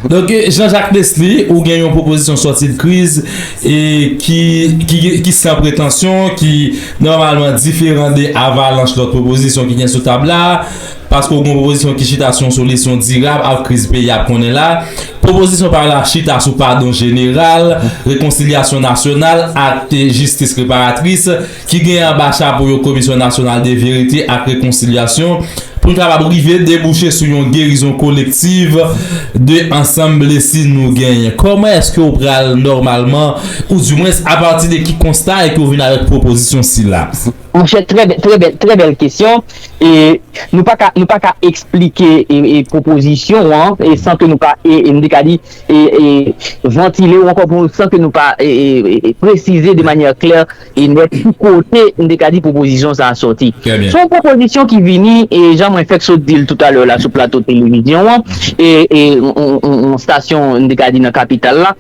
Donk Jean Jacques Nesly ou gen yon pwopozisyon sòti de kriz e ki ki san pretansyon ki nòmalman diferan de avalanch lòt pwopozisyon ki gen sou tab la paske ou gen yon pwopozisyon ki chita sou yon solisyon dirab ak kriz peyi a ap konnen la pwopozisyon pa w la chita sou padon jeneral rekonsilyasyon nasyonal ak jistis reparatris. ki genyen anba chapo yo Komisyon Nasyonal de Verite ak Rekonsilyasyon, pou n kapab rive debouche sou yon gerizon kolektiv de ansanm blesi nou genyen. Kòman èske ou pral nòmalman, ou di mwens apati de ki konsta e ke ou vin avèk pwopozisyon sila? Monchè, trè bèl kesyon. Nou pa ka, nou pa ka eksplike pwopozisyon ou an san ke nou pa, m te ka di, vantile ou ankò pou, san ke nou pa presize de manyè klè, E nèt ki kote m te ka di pwopozisyon sa a sòti. Se yon pwopozisyon ki vini, e jan mwen fèk sot di l toutalè la sou plato televizyon an, e yon stasyon m te ka di nan kapital la,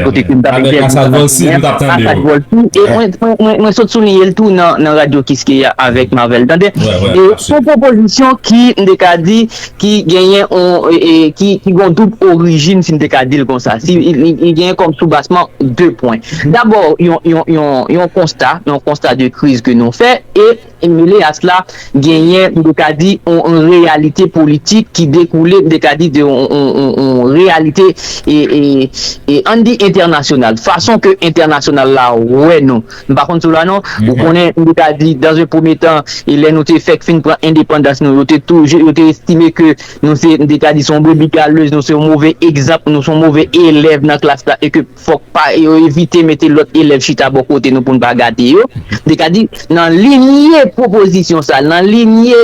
kote ke m t ap entèvyou nan matinè a, Asad Volsi, e mwen sot souliye l tou nan radyo Kiskeya avèk Marvel Tande. Se yon pwopozisyon ki, m te ka di. ki genyen yon, ki gen yon doub orijin si m te ka di l konsa, si li genyen kòm soubasman 2 pwen. Dabò yon, yon, yon, yon konsta, yon konsta de kriz ke nou fè e mele a sla genyen m te ka di yon reyalite politik ki dekoule m te ka di de yon, yon, yon, yon reyalite e, e, e an n di entènasyonal, fason ke entènasyonal la wè nou. M pa konn sou la non. Ou konnen, m te ka di, dans un premier temps, e lè nou te fèk fin pran endepandans nou, yo te toujou, yo te estime ke nou se, m te ka di, se yon brebis galeuse, nou se yon move egzanp, nou se yon move elèv nan klas la e ke fòk pa, yo evite mete lòt elèv chita bò kote nou pou n pa gate yo. M te ka di, nan linye pwopozisyon sa, nan linye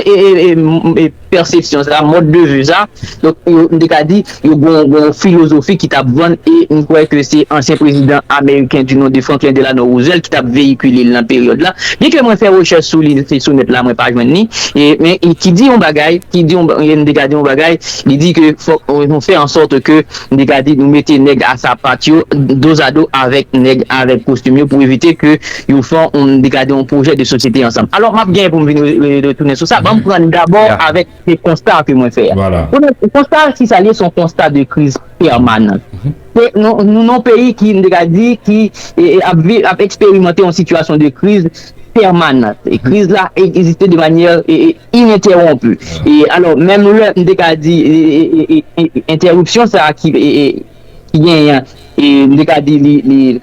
pèsepsyon sa, mòd de vi sa, donk yo m te ka di yo gon gon filozofi ki t ap vann e m kwè ke se ansyen prezidan ameriken di non de Franklin Delano Roosevelt ki t ap veyikile l nan peryòd la byen ke mwen fè rechèch sou li se sou nèt la mwen pa jwenn li e men ki di yon bagay ki di yon m te ka di yon bagay li di ke fòk nou fè an sòt ke Li ka di nou mete nèg a sapat yo dozado avèk nèg avèk kostim yo pou evite ke yo fè yon, li ka di yon pwojè de sosyete ansanm. Alò, m ap genyen pou m vin retounen sou sa. Ban m pran dabò avèk se konsta ke mwen fè a. Konnen, konsta a, si sa li ye, se yon konsta de kriz pèmanan. Se nou nan yon peyi ki, m te ka di, ki ap viv, ap eksperimante yon sitiyasyon de kriz pèmanan. Kriz la egziste de manyè Inentèwonpi. E alò, menm lè m te ka di entèripsyon sa a ki genyen an, m te ka di li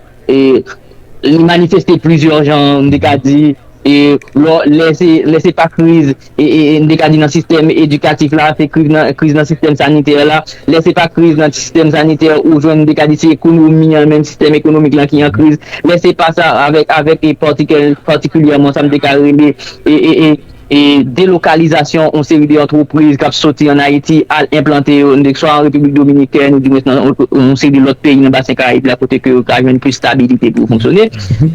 manifeste plizyè jan, m te ka di lè se pa kriz, m te ka di nan sistèm edikatif la, se kriz nan sistèm sanitè la, lè se pa kriz nan sistèm sanitè ou jwenn m te ka di se ekonomi an menm, sistèm ekonomik lan ki an kriz, lè se pa sa avèk patikilyèman sa m te ka rele. delokalizasyon yon seri de antrepriz k ap soti ann Ayiti al enplante yo swa an Repiblik Dominikèn ou dimwens nan yon seri de lòt peyi nan Basen Karayib la kote ke yo ka jwenn plis stabilite pou yo fonksyone.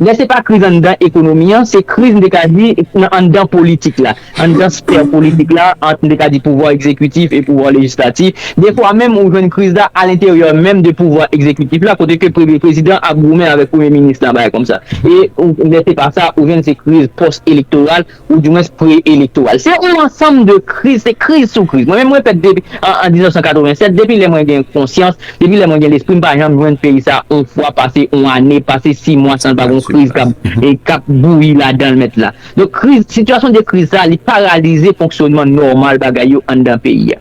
Lè se pa kriz anndan ekonomi an, se kriz m te ka di nan anndan politik la, anndan sfè politik la ant m te ka di pouvwa egzekitif e pouvwa lejislatif. Defwa menm ou jwenn kriz la alenteryè menm de pouvwa egzekitif la kote ke premye prezidan ap goumen avèk premye minis la bagay kòmsa. E lè se pa sa ou jwenn se kriz pòs elektoral ou di mwens pre elektoral. Se yon ansanm de kriz, se kriz sou kriz. Mwen menm mwen fèt depi an 1987, depi lè mwen gen konsyans, depi lè mwen gen lespri m pa janm jwenn peyi sa yon fwa pase yon ane, pase 6 mwa san l pa gon kriz kap bouyi ladan l mèt la. Donk kriz, sitiyasyon de kriz sa li paralize fonksyonman nòmal bagay yo anndan peyi a.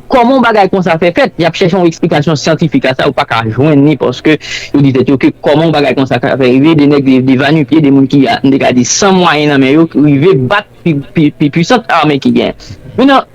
Kòman yon bagay konsa fè fèt? Y ap chèche yon eksplikasyon syantifik a sa yo pa ka jwenn ni paske yo di tèt yo ke kòman yon bagay konsa ka fè rive 2 nèg rive 2 va nu pye 2 moun ki a n te ka di san mwayen nan men yo rive bat pi pwisant ame ki genyen men nan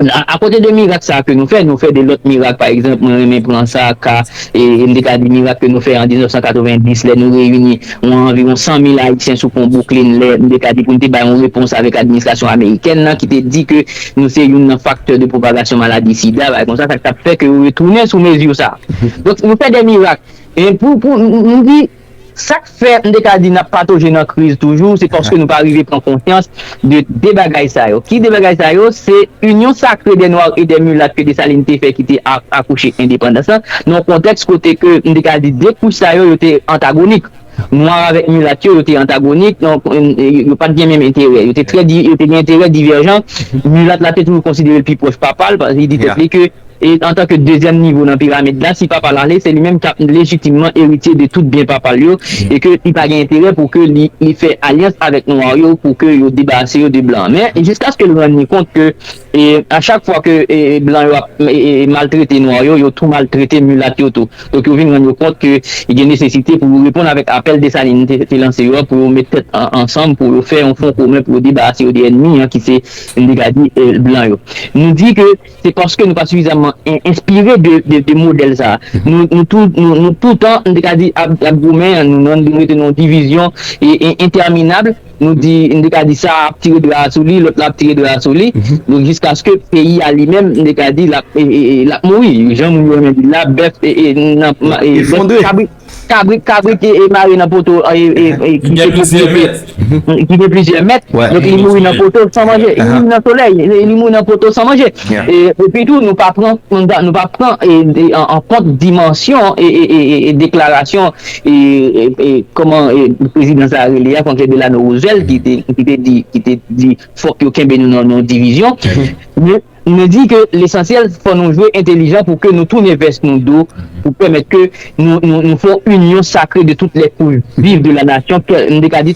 a kote 2 mirak sa ke nou fè nou fè 2 lòt mirak pa egzanp mwen renmen pran sa ka n te ka di mirak ke nou fè an 1990 lè nou reyini yon anviwon 100 mil ayisyen sou pon bouklin lè n te ka di pou n te bay yon repons avèk administrasyon amerikèn nan ki te di ke. nou se youn nan faktè de pwopagasyon maladi sida, bagay konsa, sa k t ap fè ke yo retounen sou mezi sa. Donk, yo fè de mirak. Men pou, pou m di, sa k fè m te ka di n ap patoje nan kriz toujou, se paske nou pa rive pran konsyans de de bagay sa yo. Ki de bagay sa yo? Se Union sacrée des noirs et des mulates ke Dessalines te fè ki te akouche endepandans lan, nan yon kontèks kote ke m te ka di de kouch sa yo, yo te antagonik. Nwa avèk milat yo, yo te antagonik, yo pa t gen menm enterè. Yo te gen enterè divèjan. Milat la te toujou konsidere l pi pwòch papa l, li di tèt li ke, antanke dezyèm nivo nan piramid la, si papa l ale, se li menm k ap lejitimman eritye de tout byen papa l yo, e ke li pa gen enterè pou ke li fè alyans avèk nwa yo pou ke yo debarase yo de blan. Men, jiskaske l rann li kont ke. E a chak fwa ke blan yo ap maltrete nwa yo, yo tou maltrete milat yo tou. Donk yo vin rann yo kont ke gen nesesite pou yo reponn avèk apèl Desalin te lanse yo a pou yo met tèt ansanm pou yo fè yon fwon komen pou yo debarase yo de ènmi an ki se m dega di blan yo. Nou di ke se paske nou pa sifizamman enspire de modèl sa a. Nou tou nou toutan m te ka di ap goumen an nou rete nan yon divizyon entèminab. Nou di, m te ka di sa a ap tire dra a sou li, lòt la ap tire dra a sou li. Donk jiskaske peyi a li menm, m te ka di l ap l ap mouri. Jan moun yo renmen di l la, bèf nan kabrit kabrit kabrit mare nan poto ki gen plizyè mèt ki gen plizyè mèt. Donk li mouri nan poto san manje. Li mouri nan solèy. Li mouri nan poto san manje. Epitou nou pa pran nou pa pran an kont dimansyon deklarasyon E kòman prezidan sa a rele a, Franklin Delano Roosevelt ki te ki te di ki te di fòk yo kenbe nou nan yon divizyon men nou di ke lesansyèl fò nou jwe entelijan pou ke nou tounen vès nou do pou pèmèt ke nou nou nou fè yon inyon sakre de tout lè pou viv de la nasyon kè m te ka di